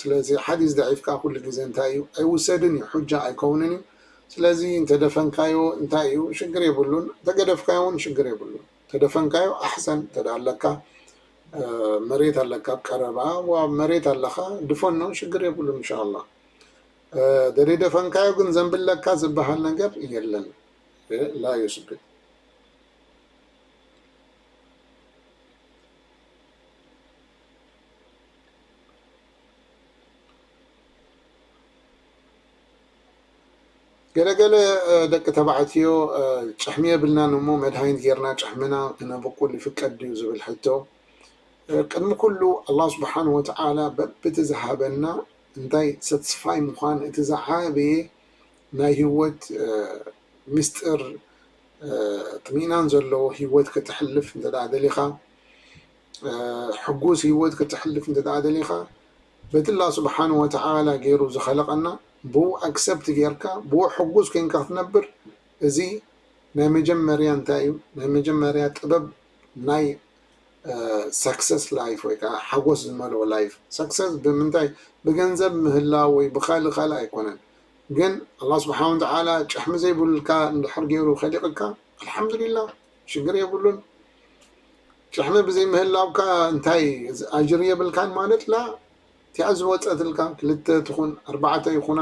ስለዚ ሓዲስ ደዒፍካ ኩሉ ግዜ እንታይ እዩ ኣይውሰድን እዩ ሑጃ ኣይከውንን እዩ ስለዚ እንተደፈንካዮ እንታይ እዩ ሽግር የብሉን እንተገደፍካዮ እውን ሽግር የብሉን ተደፈንካዮ ኣሕሰን እንተ ኣለካ መሬት ኣለካ ኣብ ቀረባ ዋ መሬት ኣለካ ድፈኖ ሽግር የብሉን እንሻ ኣላ ደደፈንካዮ ግን ዘንብለካ ዝበሃል ነገር የለን ላ ዩስብል ገለ ገለ ደቂ ተባዕትዮ ጭሕሚ የብልናን እሞ መድሃኒት ጌርና ጭሕምና ክነብቁል ይፍቀድ ድዩ ዝብል ሕቶ ቅድሚ ኩሉ ኣላህ ስብሓን ወተዓላ በብቲ ዝሃበና እንታይ ሰትስፋይ ምዃን እቲ ዝዓበየ ናይ ህይወት ምስጢር ጥሚናን ዘለዎ ህይወት ክትሕልፍ እንተ ደሊኻ ሕጉስ ሂወት ከተሕልፍ እንተድኣ ደሊኻ በቲ ኣላህ ሱብሓነሁ ወተዓላ ጌሩ ዝኸለቐና ብኡ ኣክሰፕት ጌርካ ብኡ ሕጉስ ኮንካ ክትነብር እዚ ናይ መጀመርያ እንታይ እዩ ናይ መጀመርያ ጥበብ ናይ ሳክሰስ ላይፍ ወይ ከዓ ሓጎስ ዝመልኦ ላይፍ ሳክሰስ ብምንታይ ብገንዘብ ምህላው ወይ ብኻልእ ካልእ ኣይኮነን ግን ኣላህ ሱብሓነሁ ወተዓላ ጭሕሚ ዘይብልካ እንድሕር ጌሩ ከሊቕካ ኣልሓምዱሊላህ ሽግር የብሉን ጭሕሚ ብዘይ ምህላውካ እንታይ ኣጅሪ የብልካን ማለት ላ እቲኣ ዝወጸትልካ ክልተ ትኹን ኣርባዕተ ይኹና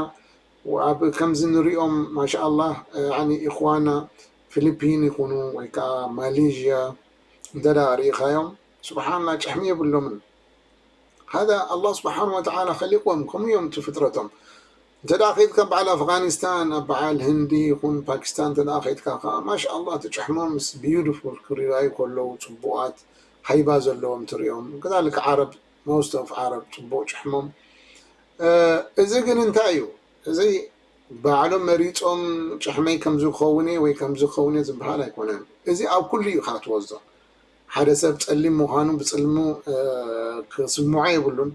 ኣብ ከምዚ ንሪኦም ማሻኣላህ ያኒ ኢኽዋና ፊሊፒን ይኹኑ ወይ ከዓ ማሌዥያ እንተ ሪኢኻዮም ስብሓንላ ጭሕሚ የብሎምን ሃዛ ኣላህ ስብሓን ወተዓላ ከሊቅዎም ከምኡ እዮም እቲ ፍጥረቶም እንተድኣ ከይድካ በዓል ኣፍጋኒስታን ኣብ በዓል ህንዲ ይኹን ፓኪስታን እንተድኣ ከይድካ ከኣ ማሻኣላህ ትጭሕሞምስ ቢዩድፉል ክሪራዩ ከለዉ ጽቡቃት ሃይባ ዘለዎም ትሪኦም ከዛሊክ ዓረብ ሞስት ኦፍ ዓረብ ጽቡቅ ጭሕሞም እዚ ግን እንታይ እዩ እዚ ባዕሎም መሪጾም ጭሕመይ ከምዚ ክኸውን እየ ወይ ከምዚ ክኸውን እየ ዝብሃል ኣይኮነን እዚ ኣብ ኩሉ እዩ ኢኻ ትወስዶ ሓደ ሰብ ጸሊም ምዃኑ ብጽልሙ ክስምዖ የብሉን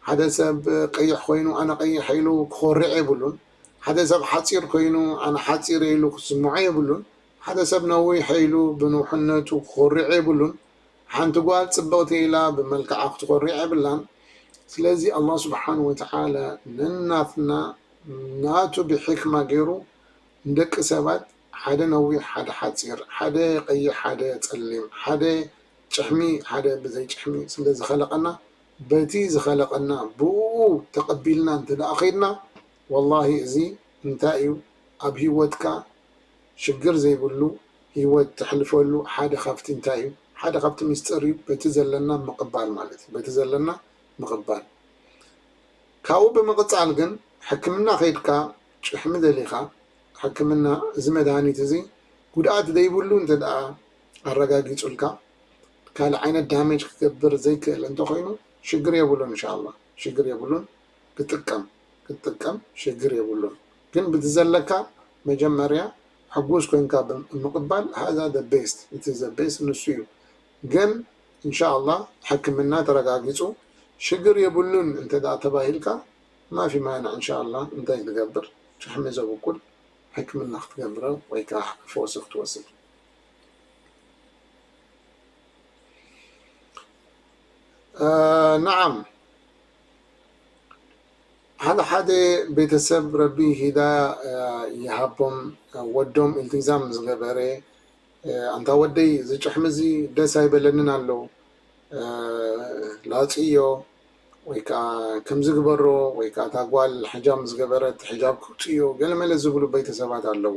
ሓደ ሰብ ቀይሕ ኮይኑ ኣነ ቀይሕ ኢሉ ክኾርዕ የብሉን። ሓደ ሰብ ሓጺር ኮይኑ ኣነ ሓጺር ኢሉ ክስምዖ የብሉን። ሓደ ሰብ ነዊሕ ኢሉ ብንውሕነቱ ክኾርዕ የብሉን። ሓንቲ ጓል ጽብቕቲ ኢላ ብመልክዓ ክትኾርዕ የብላን። ስለዚ ኣላህ ስብሓነሁ ወተዓላ ነናትና ናቱ ብሒክማ ገይሩ ንደቂ ሰባት ሓደ ነዊሕ ሓደ ሓጺር፣ ሓደ ቀይሕ ሓደ ጸሊም፣ ሓደ ጭሕሚ ሓደ ብዘይ ጭሕሚ ስለዝኸለቐና በቲ ዝኸለቐና ብኡኡ ተቐቢልና እንተደኣ ከይድና ወላሂ እዚ እንታይ እዩ ኣብ ሂወትካ ሽግር ዘይብሉ ሂወት ተሕልፈሉ ሓደ ካብቲ እንታይ እዩ ሓደ ካብቲ ምስጢር እዩ በቲ ዘለና ምቕባል ማለት እዩ በቲ ዘለና ምቕባል ካብኡ ብምቕጻል ግን ሕክምና ከይድካ ጭሕሚ ደሊኻ ሕክምና እዚ መድሃኒት እዚ ጉድኣት ዘይብሉ እንተደኣ ኣረጋጊጹልካ ካልእ ዓይነት ዳሜጅ ክገብር ዘይክእል እንተኾይኑ ሽግር የብሉን እንሻላ ሽግር የብሉን ክጥቀም ክትጥቀም ሽግር የብሉን ግን ብቲ ዘለካ መጀመርያ ሕጉስ ኮንካ ምቅባል ሃዛ the best እቲ the best ንሱ እዩ ግን እንሻላ ሕክምና ተረጋጊጹ ሽግር የብሉን እንተ ተባሂልካ ማፊ ማንዕ እንሻላ እንታይ ትገብር ጭሕሚ ዘብቁል ሕክምና ክትገብረ ወይ ከኣ ፈውሲ ክትወስድ ናዓም ሓደ ሓደ ቤተሰብ ረቢ ሂዳያ ይሃቦም ወዶም ኢልትዛም ዝገበረ ኣንታ ወደይ እዚ ጭሕሚ እዚ ደስ ኣይበለንን ኣሎ ላፅዮ ወይ ከዓ ከምዚ ግበሮ ወይ ከዓ እታ ጓል ሕጃም ዝገበረት ሕጃብ ክውፅእዮ ገለመለ ዝብሉ ቤተሰባት ኣለዉ።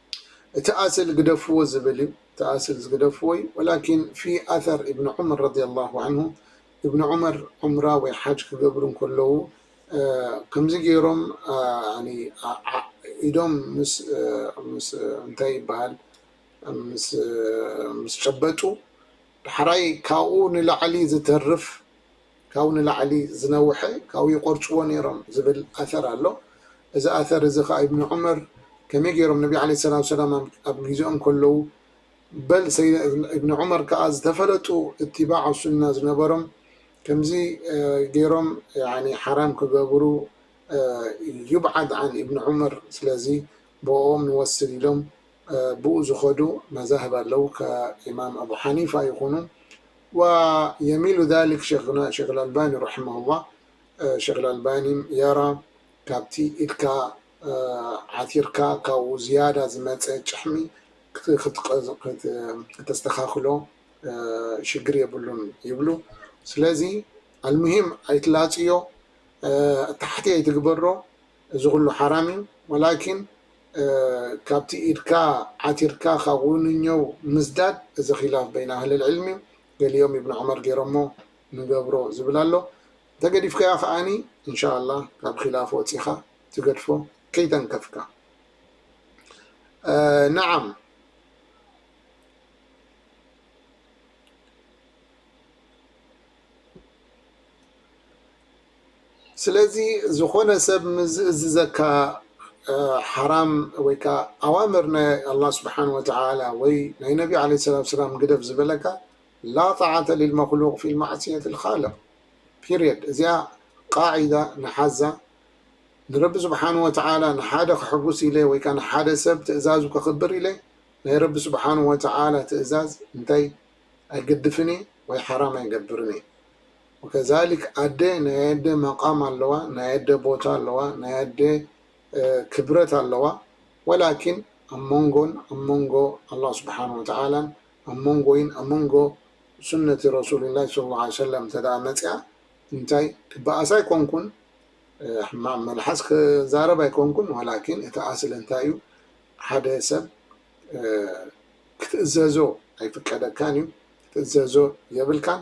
እቲ ኣስል ግደፍዎ ዝብል እዩ እቲ ኣስል ዝግደፍዎ እዩ ወላኪን ፊ ኣሰር እብን ዑመር ረዲየላሁ ዐንሁ እብን ዑመር ዑምራ ወይ ሓጅ ክገብሩ እንከለዉ ከምዚ ገይሮም ኢዶም ምስ እንታይ ይበሃል ምስ ጨበጡ ዳሕራይ ካብኡ ንላዕሊ ዝተርፍ ካብኡ ንላዕሊ ዝነውሐ ካብኡ ይቆርጽዎ ኔሮም ዝብል ኣሰር ኣሎ እዚ ኣሰር እዚ ከኣ ኢብኑ ዑመር ከመይ ጌሮም ነቢ ዓለይሂ ሰላቱ ወሰላም ኣብ ጊዜኦም ከለዉ በል ሰይድና ኢብኑ ዑመር ከኣ ዝተፈለጡ እትባዕ ሱና ዝነበሮም ከምዚ ጌሮም ያኒ ሓራም ክገብሩ ዩብዓድ ዓን ኢብኑ ዑመር ስለዚ ብኦኦም ንወስድ ኢሎም ብኡ ዝኸዱ መዛህብ ኣለው ከ ኢማም ኣቡ ሓኒፋ ይኹኑ ወየሚሉ ዛሊክ ሸይኽና ሸይኽ ኣልኣልባኒ ረሒመሁላህ ሸይኽ ኣልኣልባኒ የራ ካብቲ ኢድካ ዓቲርካ ካብኡ ዝያዳ ዝመጸ ጭሕሚ ከተስተኻኽሎ ሽግር የብሉን ይብሉ ስለዚ ኣልሙሂም ኣይትላጽዮ ታሕቲ ኣይትግበሮ እዚ ኩሉ ሓራም እዩ ወላኪን ካብቲ ኢድካ ዓቲርካ ካብ ውንኘው ምዝዳድ እዚ ኪላፍ በይን ኣህለል ዕልም እዩ ገሊኦም እብን ዑመር ገይሮሞ ንገብሮ ዝብል ኣሎ እንተገዲፍካዮ ከኣኒ እንሻኣላህ ካብ ኪላፍ ወጺካ ትገድፎ ከይተንከፍካ ነዓም ስለዚ ዝኾነ ሰብ ምስ ዝእዝዘካ ሓራም ወይ ከኣ ኣዋምር ናይ ኣላህ ስብሓን ወተዓላ ወይ ናይ ነቢ ዓለይሂ ሰላቱ ወሰላም ግደፍ ዝበለካ ላ ጣዓተ ሊልመኽሉቅ ፊ ማዕስየት ልኻልቅ ፒርየድ እዚኣ ቃዒዳ ንሓዛ ንረቢ ስብሓን ወተዓላ ንሓደ ከሕጉስ ኢለ ወይ ከኣ ንሓደ ሰብ ትእዛዙ ከኽብር ኢለ ናይ ረቢ ስብሓን ወተዓላ ትእዛዝ እንታይ ኣይገድፍን እየ ወይ ሓራም ኣይገብርን እየ ወከዛሊክ ኣደ ናይ ኣደ መቃም ኣለዋ ናይ ኣደ ቦታ ኣለዋ ናይ ኣደ ክብረት ኣለዋ ወላኪን ኣብ መንጎን ኣብ መንጎ ኣላህ ስብሓን ወተዓላን ኣብ መንጎይን ኣብ መንጎ ሱነቲ ረሱሉላህ ሰለላሁ ዓለይሂ ወሰለም እንተድኣ መፂኣ እንታይ ክበኣስ ኣይኮንኩን ሕማቅ መልሓስ ክዛረብ ኣይኮንኩን ወላኪን እቲ ኣስሊ እንታይ እዩ ሓደ ሰብ ክትእዘዞ ኣይፍቀደካን እዩ ክትእዘዞ የብልካን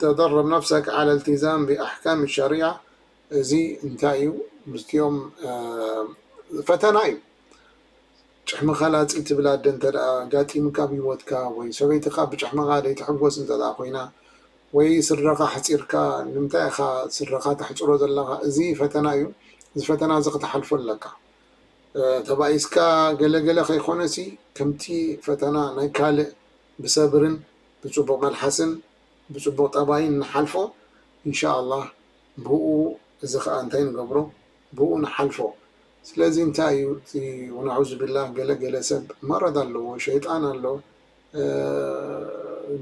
ተደርብ ነፍሰክ ዐለ እልትዛም ብኣሕካም ኣሸሪዓ እዚ እንታይ እዩ ምስቲኦም ፈተና እዩ ጭሕሚ ከላጺ ትብል ኣደ እንተ ኣጋጢምካ ኣብ ሂወትካ ወይ ሰበይትካ ብጭሕምካ ደይትሕጎስ እንተ ኮይና ወይ ስድራካ ኣሕጺርካ ንምንታይ ኢካ ስድራካ ተሕጽሮ ዘለካ እዚ ፈተና እዩ እዚ ፈተና እዚ ክትሓልፎ ኣለካ ተባኢስካ ገለ ገለ ከይኮነሲ ከምቲ ፈተና ናይ ካልእ ብሰብርን ብጽቡቅ መልሓስን ብጽቡቅ ጠባይን ንሓልፎ እንሻኣላህ ብኡ እዚ ከኣ እንታይ ንገብሮ ብኡ ንሓልፎ ስለዚ እንታይ እዩ እቲ ወናዑዙቢላህ ገለ ገለ ሰብ መረድ ኣለዎ ሸይጣን ኣሎ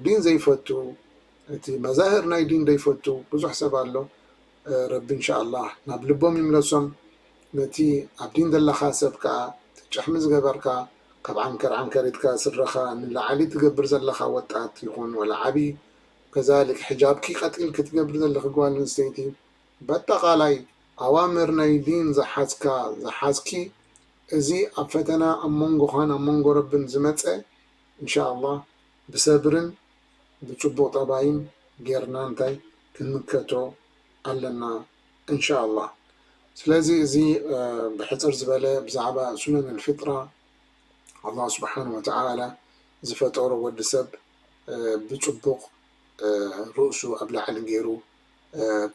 ዲን ዘይፈቱ እቲ መዛህር ናይ ዲን ዘይፈቱ ብዙሕ ሰብ ኣሎ ረቢ እንሻኣላህ ናብ ልቦም ይምለሶም ነቲ ኣብ ዲን ዘለካ ሰብ ከኣ ትጭሕሚ ዝገበርካ ካብ ዓንከር ዓንከር ኢድካ ስድራካ ንላዓሊ ትገብር ዘለካ ወጣት ይኩን ወላ ዓቢ ከዛሊክ ሕጃብኪ ቀጢልኪ ትገብሪ ዘለኪ ጋል ኣንስተይቲ ባጣቃላይ ኣዋምር ናይ ዲን ዝሓዝካ ዝሓዝኪ እዚ ኣብ ፈተና ኣብ መንጎካን ኣብ መንጎ ረብን ዝመጸ እንሻኣላህ ብሰብርን ብጽቡቅ ጠባይን ጌርና እንታይ ክንምከቶ ኣለና እንሻኣላህ ስለዚ እዚ ብሕጽር ዝበለ ብዛዕባ ሱነን ልፍጥራ ኣላህ ስብሓን ወተዓላ ዝፈጠሮ ወዲ ሰብ ብጽቡቅ ርእሱ ኣብ ላዕሊ ጌሩ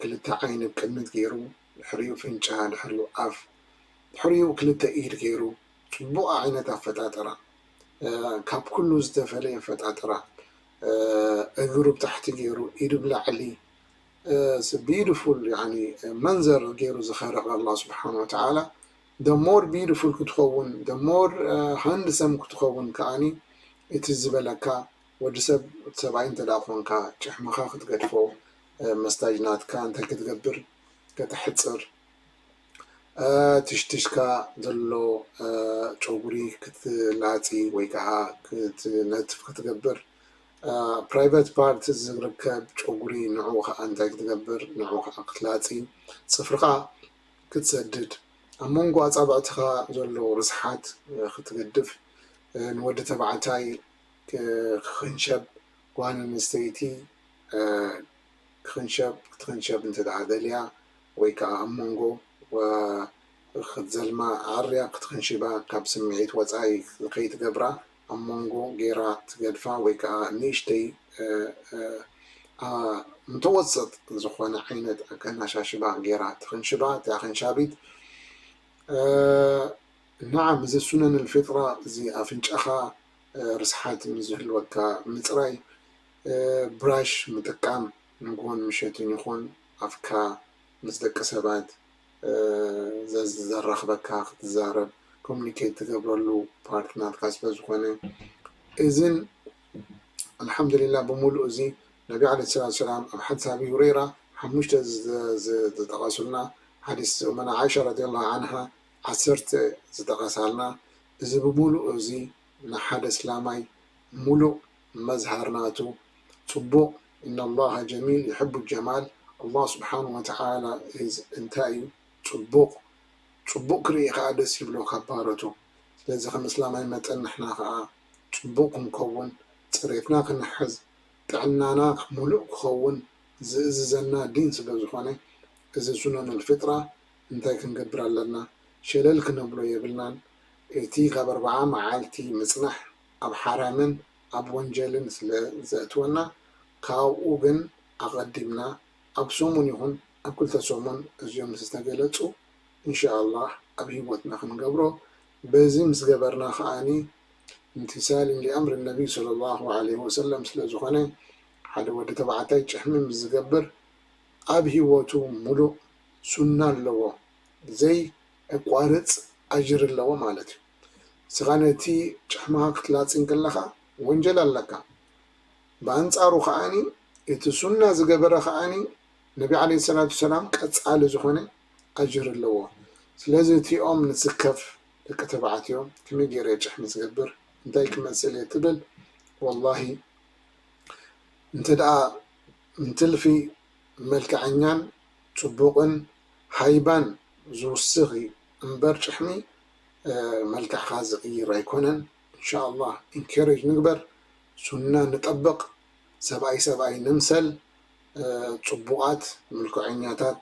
ክልተ ዓይኒ ብ ቅድሚት ጌሩ ድሕሪኡ ኣፍንጫ ድሕሪኡ ኣፍ ድሕሪኡ ክልተ ኢድ ጌሩ ጽቡቅ ዓይነት ኣፈጣጥራ ካብ ኩሉ ዝተፈለየ ኣፈጣጥራ እግሩ ብታሕቲ ገይሩ ኢዱ ብላዕሊ ስ ቢዩትፉል ያኒ መንዘር ገይሩ ዝኸርቕ ኣላህ ስብሓን ወተዓላ the more beautiful ክትኸውን the more handsome ክትኸውን ከኣኒ እቲ ዝበለካ ወዲ ሰብ ሰብኣይ እንተ ኮንካ ጭሕምኻ ክትገድፎ መስታጅ ናትካ እንታይ ክትገብር ከተሕፅር ትሽትሽካ ዘሎ ጨጉሪ ክትላፂ ወይ ከዓ ክትነትፍ ክትገብር ፕራይቨት ፓርት ዝርከብ ጨጉሪ ንዑ ከዓ እንታይ ክትገብር ንዑ ከዓ ክትላፂ ፅፍርኻ ክትሰድድ ኣብ መንጎ ኣፃብዕትኻ ዘሎ ርስሓት ክትገድፍ ንወዲ ተባዕታይ ክኽንሸብ ጓል ኣንስተይቲ ክትክንሸብ ክትክንሸብ እንተድኣ ደልያ ወይ ከኣ ኣብ መንጎ ወ ክትዘልማ ኣዐርያ ክትክንሽባ ካብ ስምዒት ወጻኢ ከይትገብራ ኣብ መንጎ ጌራ ትገድፋ ወይ ከኣ ንእሽተይ ኣ ምተወሰጥ ዝኾነ ዓይነት ኣከናሻሽባ ጌራ ትክንሽባ እቲ ኣክንሻቢት ነዓ ምዝ ሱነን ኣልፊጥራ እዚ ኣፍንጫኻ ርስሓት ምስ ዝህልወካ ምጽራይ ብራሽ ምጥቃም ንግሆን ምሸትን ይኹን ኣፍካ ምስ ደቂ ሰባት ዘራኽበካ ክትዛረብ ኮሙኒኬት ትገብረሉ ፓርት ናትካ ስለዝኾነ እዝን ኣልሓምዱሊላ ብምሉእ እዚ ነቢ ዓለይሂ ሰላቱ ሰላም ኣብ ሓዲስ ኣቢ ሁረይራ ሓሙሽተ ዝጠቐሱልና ሓዲስ ኡመና ዓኢሻ ረዲየላሁ ዓንሃ ዓሰርተ ዝጠቐሳልና እዚ ብምሉእ እዚ ንሓደ እስላማይ ምሉእ መዝሃር ናቱ ጽቡቅ ኢነላሃ ጀሚል ዩሕቡ ጀማል ኣላህ ስብሓን ወተዓላ ኢዝ እንታይ ኢዩ ጽቡቅ ጽቡቅ ክርኢ ከኣ ደስ ይብሎ ካብ ባሮቱ ስለዚ ከም እስላማይ መጠን ንሕና ከኣ ጽቡቅ ክንከውን ጽሬትና ክንሕዝ ጥዕናና ሙሉእ ክኸውን ዝእዝዘና ዲን ስለ ዝኾነ እዚ ሱነኑል ፊጥራ እንታይ ክንገብር ኣለና ሸለል ክነብሎ የብልናን እቲ ካብ ኣርብዓ መዓልቲ ምጽናሕ ኣብ ሓራምን ኣብ ወንጀልን ስለ ዘእትወና ካብኡ ግን ኣቐዲምና ኣብ ሰሙን ይኹን ኣብ ክልተ ሰሙን እዚኦም ምስ ተገለጹ እንሻኣላህ ኣብ ሂወትና ክንገብሮ በዚ ምስ ገበርና ከኣ ኢምቲሳልን ሊኣምሪ ነብይ ሰለሏሁ ዓለይሂ ወሰለም ስለ ዝኾነ ሓደ ወዲ ተባዕታይ ጭሕሚ ምስ ዝገብር ኣብ ሂወቱ ሙሉእ ሱና ኣለዎ ዘይ ኣቋርጽ ኣጅሪ ኣለዎ ማለት እዩ። ንስኻ ነቲ ጫማኻ ክትላጺ እንከለኻ ወንጀል ኣለካ። ብኣንጻሩ ከኣ እቲ ሱና ዝገበረ ከኣ ነቢ ዓለይሂ ሰላቱ ሰላም ቀጻሊ ዝኾነ ኣጅሪ ኣለዎ። ስለዚ እቲኦም ንስከፍ ደቂ ተባዕትዮ ከመይ ጌረ ጭሕሚ ዝገብር እንታይ ክመስል እየ ትብል ወላሂ እንተድኣ እንትልፊ መልከዐኛን ጽቡቕን ሃይባን ዝውስኽ እዩ እምበር ጭሕሚ መልክዕካ ዝቅይር ኣይኮነን እንሻኣላህ ኢንኬሬጅ ንግበር ሱና ንጠብቅ ሰብኣይ ሰብኣይ ንምሰል ጽቡቃት ምልክዐኛታት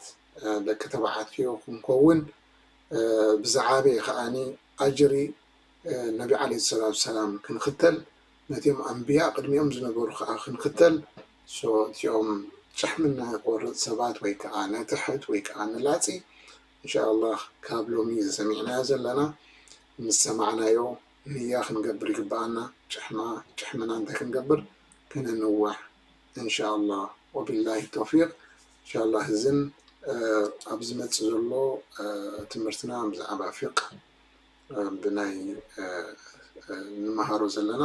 ደቂ ተባዕትዮ ክንከውን ብዝዓበየ ከኣ ኣጅሪ ነቢ ዓለይሂ ሰላቱ ሰላም ክንክተል ነቲኦም ኣንብያ ቅድሚኦም ዝነበሩ ከኣ ክንክተል እቲኦም ጭሕሚ ናይ ቆርጽ ሰባት ወይ ከኣ ንትሕት ወይ ከኣ ንላጺ እንሻኣላህ ካብ ሎሚ እዚ ሰሚዕናዮ ዘለና ምስ ሰማዕናዮ ንያ ክንገብር ይግበኣና ጭሕማ ጭሕምና እንተክንገብር ክንንዋሕ እንሻኣላህ ወቢላሂ ቶፊቅ እንሻኣላህ እዝን ኣብ ዝመጽእ ዘሎ ትምህርትና ብዛዕባ ፊቅ ብናይ ንመሃሮ ዘለና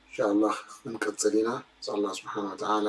እንሻኣላህ ክንቅጽል ኢና ንስኣላህ ስብሓን ወተዓላ